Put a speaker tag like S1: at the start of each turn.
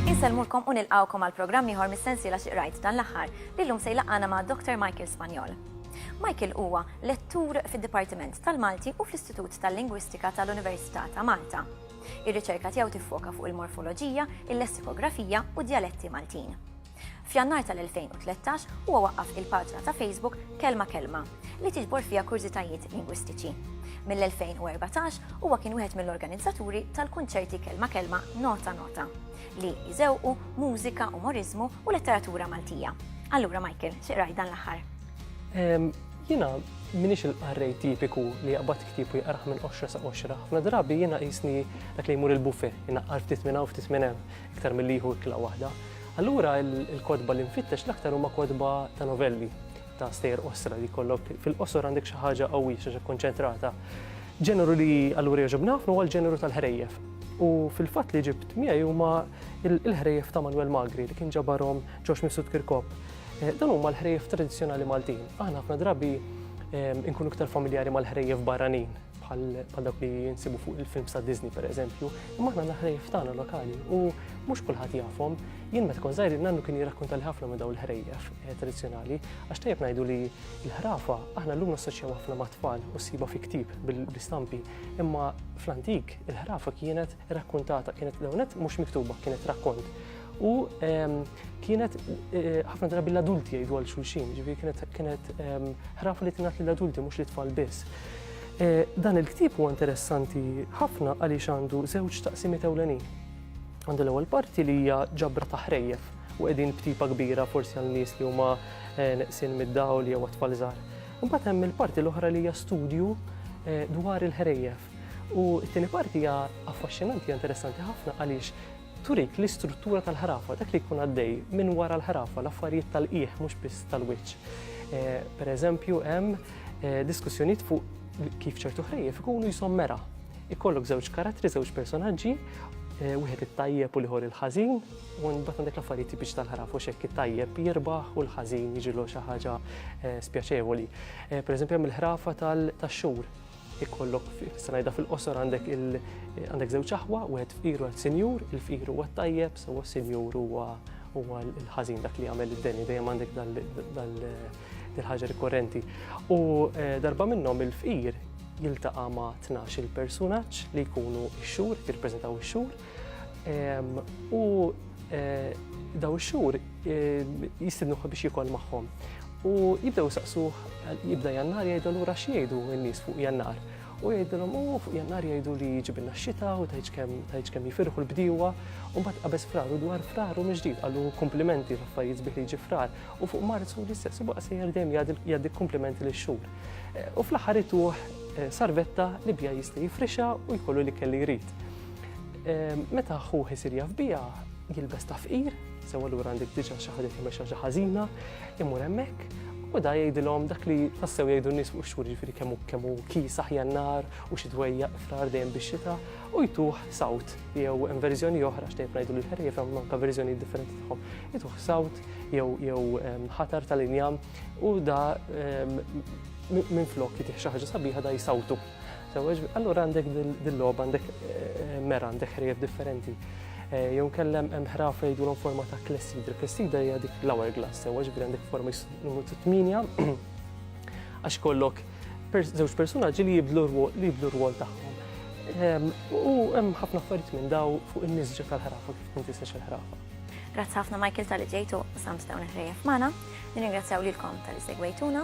S1: Insellmulkom u nilqgħukom għal programm ieħor mis-sensiela xi qrajt dan l-aħħar li llum se jlaqqana ma' Dr. Michael Spanjol. Michael huwa lettur fid-Dipartiment tal-Malti u fl-Istitut tal-Lingwistika tal-Università ta' Malta. Ir-riċerka tiegħu tiffoka fuq il-morfoloġija, il-lessikografija u d-djaletti Maltin. F'Jannar tal-2013 huwa waqqaf il-paġna ta' Facebook Kelma Kelma li tiġbor fiha kurżitajiet lingwistiċi. Mill-2014 huwa kien wieħed mill-organizzaturi tal-kunċerti Kelma Kelma Nota Nota li jżewqu mużika, umoriżmu u letteratura Maltija. Allura Michael, xi dan l-aħħar?
S2: Jiena minix il-qarrej tipiku li jaqbad ktieb u jaqrah minn qoxra sa qoxra. Ħafna drabi jiena qisni dak li jmur il-buffet, inaqqar ftit minn hawn ftit minn hemm, iktar milli jieħu ikla waħda. Allura il-kotba li nfittex l-aktar huma kotba ta' novelli, ta' stejjer qosra li jkollok fil-qosor għandek xi ħaġa qawwija, xi ħaġa kkonċentrata. Ġeneru li allura jogħġobni ħafna huwa l-ġeneru tal-ħrejjef. U fil-fatt li ġibt miegħi huma l-ħrejjef ta' Manwel Magri li kien ġabarhom Ġorġ Mifsud Kirkop. Dawn huma l-ħrejjef tradizzjonali Maltin. Aħna ħafna drabi nkunu iktar familjari mal-ħrejjef barranin bħal dak li jinsibu fuq il-films ta' Disney per eżempju, imma aħna l-ħrejjef tagħna lokali u mhux kulħadd jafhom. Jien meta kon żgħir nannu kien jirrakkonta li ħafna minn dawn il-ħrejjef eh, tradizzjonali għax tajjeb ngħidu li l-ħrafa aħna llum nassoċjaw ħafna mat-tfal u siba fi ktib bil-istampi, imma fl-antik il-ħrafa kienet rakkuntata, kienet l-ewnet mhux miktuba, kienet rakkont. U ehm, kienet eh, ħafna drabi l-adulti jgħidu għal xulxin, ġivi kienet kienet ehm, ħrafa li tingħat lill-adulti mhux li tfal biss. Eh, dan il-ktib huwa interessanti ħafna għaliex għandu żewġ taqsimiet ewlenin. Għandu l-ewwel parti li hija ġabra ta' ħrejjef u qegħdin b'tipa kbira forsi għal nies li huma eh, neqsin mid-dawl jew tfal żgħar. Imbagħad hemm il-parti l-oħra li hija studju dwar il-ħrejjef U t-tieni parti hija affaxxinanti, interessanti ħafna għaliex turik l-istruttura tal-ħrafa, dak li jkun għaddej minn wara l-ħrafa, l-affarijiet tal-qieħ mhux biss tal-wiċċ. Eh, per eżempju, hemm eh, diskussjonijiet fuq kif ċertu ħrejjef ikunu jisommera. Ikollok żewġ karattri, żewġ personaġġi, eh, wieħed it-tajjeb u liħor il-ħażin, u mbagħad għandek l-affarijiet tipiċ tal-ħraf u xekk it-tajjeb jirbaħ u l-ħażin jiġilu xi ħaġa spjaċevoli. Per eżempju, hemm il-ħrafa tal-xhur ikollok se ngħidha fil-qosor għandek għandek żewġ aħwa, wieħed fqir u wieħed sinjur, il-fqir huwa t-tajjeb, sewwa s-sinjur huwa huwa l-ħażin dak li jagħmel id-deni dejjem għandek dal-ħaġa rikorrenti. U eh, darba minnhom il-fqir jiltaqa' ma' 12 il-personaġġ li jkunu x-xhur, jirpreżentaw ix-xhur, U daw ix-xhur jistidnuh biex jikol magħhom. U jibdew saqsuh jibda jannar jgħidu lura x'jgħidu n-nies fuq jannar. U jgħidilhom u fuq jannar jgħidu li ġibilna x-xita u tajċ kemm jifirħu l-bdiewa. U mbagħad qabeż frar u dwar frar u miġdid qalu komplimenti l-affarijiet sbieħ li ġi frar. U fuq Marzu l-istess u baqa' sejjer dejjem jgħaddi komplimenti lix xhur. U fl-aħħar ituh sarvetta li bija jista' jifrixa u jkollu li kelli jrid. Meta ħuh isir jaf biha, jilbes ta' fqir, sew allura għandek diġà xi ħaġa timexxa xi ħażina, imur hemmhekk u da jgħidilhom dak li tassew jgħidu n-nies fuq ix-xhur jiġifieri kemm hu kemm hu kiesaħ jannar u xi dwejjaq frar dejjem bix-xita u jtuh sawt jew hemm verżjoni oħra x'tejb ngħidu lil ħerrief hemm anke verżjonijiet differenti tagħhom. Jtuh sawt jew jew ħatar tal-injam u da minflok jitih xi ħaġa sabiħa da jsawtu. Sewweġ, allura għandek dil-logħba, għandek eh, mera, għandek ħrejf differenti. Eh, jew kellem hemm ħraf jgħidulhom forma ta' klessidra. Klessidra hija dik l-hour glass, sewweġ bil għandek forma numru 8 għax kollok żewġ personaġġi li jibdlu li jibdlu r-rwol tagħhom. Ehm, u hemm ħafna affarijiet minn daw fuq in-nisġa tal-ħrafa kif tkun tisex il-ħrafa. Grazzi ħafna Michael
S1: tal-li ġejtu u samstaw neħrejja f'mana. Nirringrazzjaw lilkom tal-li segwejtuna.